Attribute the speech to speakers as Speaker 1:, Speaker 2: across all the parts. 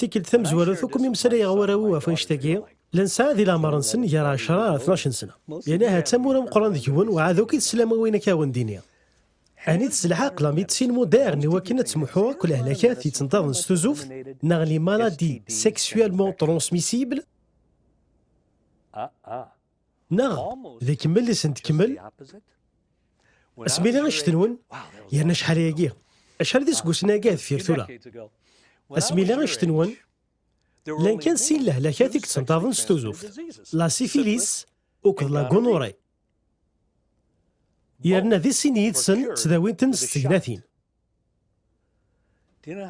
Speaker 1: Tikkelt tamezwarut akk mi msalayeɣ warraw ɣef annect-agi, la nesɛa di leɛmer-nsen gar 10 ar 12 sena. Yerna ahat d tamura meqqren deg-wen uɛad akk i teslam win akka awen-d-iniɣ. Anit s lḥeqq la médecine moderne iwakken ad tmuḥu akk lehlakat yettenṭaḍen s tuzuft neɣ les maladies sexuellement transmissibles? Neɣ d ikemmel i sent-tkemmel asmi d iɣict-nwen yerna acḥal ayagi acḥal d iseggusen ayagi ad fir tura asmi d iɣict-nwen llan kan sin lehlakat i yettenṭaḍen s tuzuft la sifilis uked la gunure yerna di sin yid-sen ttdawin-ten s tegnatin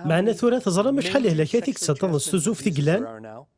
Speaker 1: meɛna tura teẓram acḥal lehlakat i yettenṭaḍen s tuzuft i yellan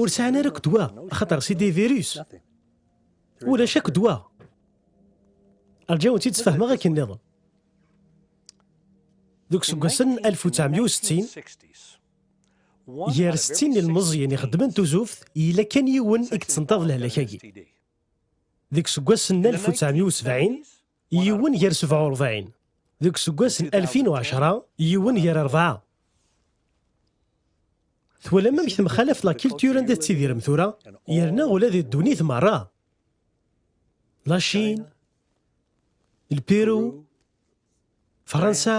Speaker 1: ur sɛan ara akk ddwa axaṭer si des virus ulac akk ddwa rǧaw-tt-id sfehmeɣ akken nniḍen deg useggasen 1960 gar 60 n ilmeẓyen ixeddmen tuzuft yella kan yiwen i yettentaḍ lehlak-agi deg useggas n 1970 Yiwen gar sebɛa u rebɛin. Deg useggas n alfin u ɛecṛa, yiwen gar rebɛa. Twalam amek temxalaf la culture anda tettidirem tura, yerna ula di ddunit merra. La Chine, le Pérou, Fransa.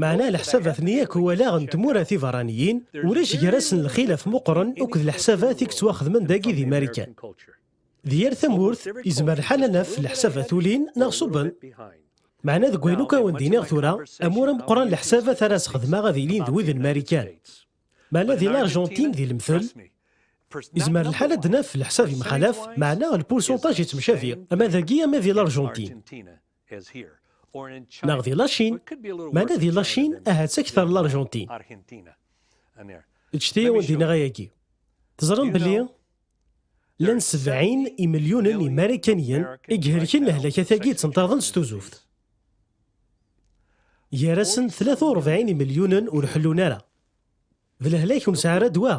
Speaker 1: Meɛna leḥsab at nni akk walaɣ n tmura tiberraniyin, ulac gar-asen lxilaf meqqren akked leḥsabat i yettwaxedmen dagi di Marikan. Di yal tamurt, yezmer lḥal ad naf leḥsabat ulin neɣ ṣubben. Meɛna deg wayen akk ara wen-d-iniɣ tura, amur ameqqran leḥsabat ara as-xedmeɣ ad ilin d wid n Marikan. Meɛna di Larjentin di lemtel, yezmer lḥal ad naf leḥsab yemxalaf, meɛna lpursunṭaj yettemcabi, ama dagi ama di Larjentin. Neɣ di Lacin, meɛna di Lacin ahat akteṛ n Laṛjentin. Ǧǧet-iyi ad awen-d-iniɣ ayagi. Teẓṛam belli llan sebɛin imelyunen imarikaniyen i ihelken lehlakatagi ittenṭaḍen s tuzuft. Gar-asen tlata urebɛin imelyunen ur ḥellun ara. D lehlak ur nesɛi ara ddwa.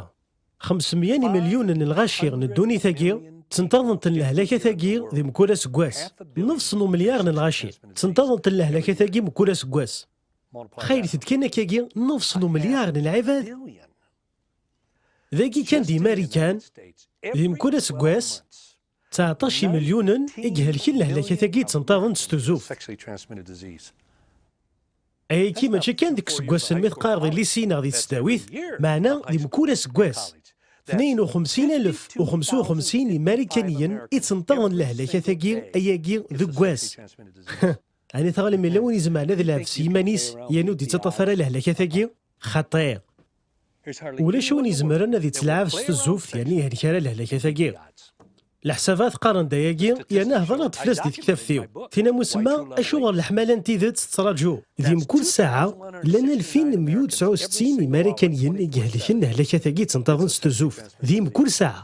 Speaker 1: 500 n imilyunen n lɣaci n ddunit-agi, ttenṭaḍen-ten lehlaka-tagi di mkul aseggas. Nefs n umilyar n lɣaci, ttenṭaḍen-ten lehlaka-tagi mkul aseggas. Xaylet-d kan akkagi nefs n umilyar n lɛibad. Dagi kan di Marikan, di mkul aseggas, 19 imelyunen i ihelken lehlak-agi ttenṭaḍen s tuzzuft. Ayagi mačči kan deg iseggasen mi teqqareḍ ilisi neɣ di tesdawit, meɛna di mkul aseggas. 52,055 imarikaniyen i ttenṭaḍen lehlak-agi ayagi deg wass. Ɛni tɣalem yella win izemren ad ilɛeb s yiman-is yernu ur d-ittaṭṭaf ara lehlak-agi? Xaṭi! Ulac win izemren ad ittelɛab s tezzuft yerni ihelkar a lehlakatagi. Leḥsabat qqaren-d ayagi yerna hedreɣ-d fell-as di tektabt-iw. Tin am usemma, acuɣer leḥmala n tidet tettraǧu? Di mkul ssaɛa, llan alfin meyya u tesɛa u settin imarakaniyen i ihelken lehlakatagi ttenṭaḍen s tezzuft, di mkul ssaɛa.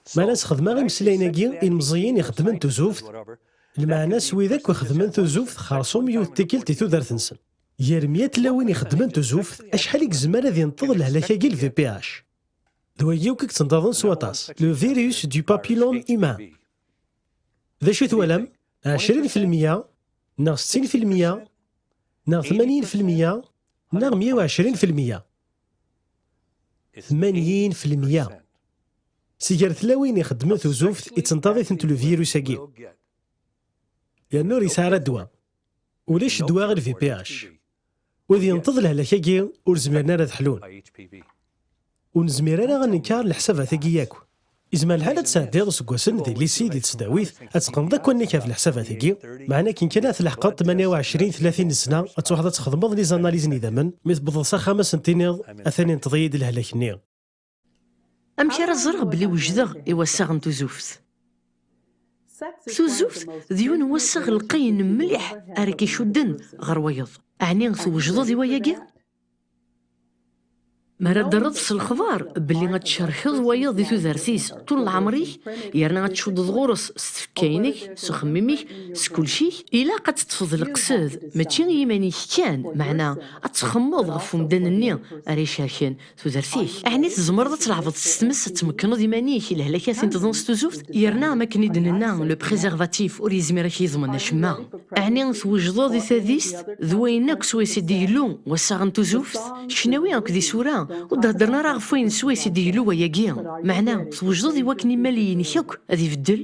Speaker 1: Ma la sxedmeɣ imeslayen-agi ilmeẓẓiyen i xeddmen tuzuft, lmeɛna s wid akk ixeddmen tuzuft xersum yiwet tikkelt i tudert-nsen. Gar mya tlawin ixeddmen tuzuft, acḥal i yezmer ad inṭeḍ lehlak-agi lvph? D wagi akk i yettenṭaḍen s waṭas, le virus du papillome humain. D acu i twalam? Ɛecrin filmya, neɣ settin filmya, neɣ tmanyin filmya, neɣ mya u ɛecrin filmya? Tmanyin filmya. Si gar tlawin ixeddmen tuzuft, ittenṭaḍ-itent levirus-agi. Yerna ur yesɛi ara ddwa. Ulac ddwa i lVPH. Wid yenṭeḍ lehlak-agi ur zmiren ara ad ḥlun. Ur nezmir ara ad nenker leḥsabat-agi yakk. Izmer lḥal ad tesɛeddiḍ iseggasen di llisi, di tesdawit, ad teqqneḍ akk allen-ik ɣef leḥsabat-agi, meɛna akken kan ad tleḥqeḍ tmanya u ɛecrin, tlatin n ssna, ad truḥeḍ ad txedmeḍ lizanaliz n idammen, mi tewwḍeḍ s axxam ad asen-tiniḍ atan inṭeḍ-iyi-d lehlak-nni.
Speaker 2: Amek ara ẓreɣ belli wejdeɣ i wassaɣ n tuzuft? Tuzuft d yiwen n wassaɣ lqayen mliḥ ara k-icudden ɣer wayeḍ. Ɛni twejdeḍ i wayagi? Mi ara d-terreḍ s lexbar belli ad tcerkeḍ wayeḍ di tudert-is ṭul n leɛmer-ik yerna ad tcuddeḍ ɣur-s s tfekka-inek, s uxemmim-ik, s kulci-k, ilaq ad teṭṭfeḍ leqsed mačči i yiman-ik kan, meɛna ad txemmeḍ ɣef umdan-nni ara icerken tudert-ik. Ɛni tzemreḍ ad tleɛbeḍ s tmes, ad tmekkneḍ iman-ik i lehlakat n tḍens tuzuft? Yerna am akken i d-nenna, le préservatif ur yezmir ad k-yeḍmen acemma. Ɛni twejdeḍ i tadist d wayen akk swayes i d-igellu wassaɣ n tuzuft? Ccnawi akked isura ur d-heddren ara ɣef wayen swayes i d-igellu wayagi. Meɛna, twejdeḍ i wakken imal-inek akk ad ibeddel?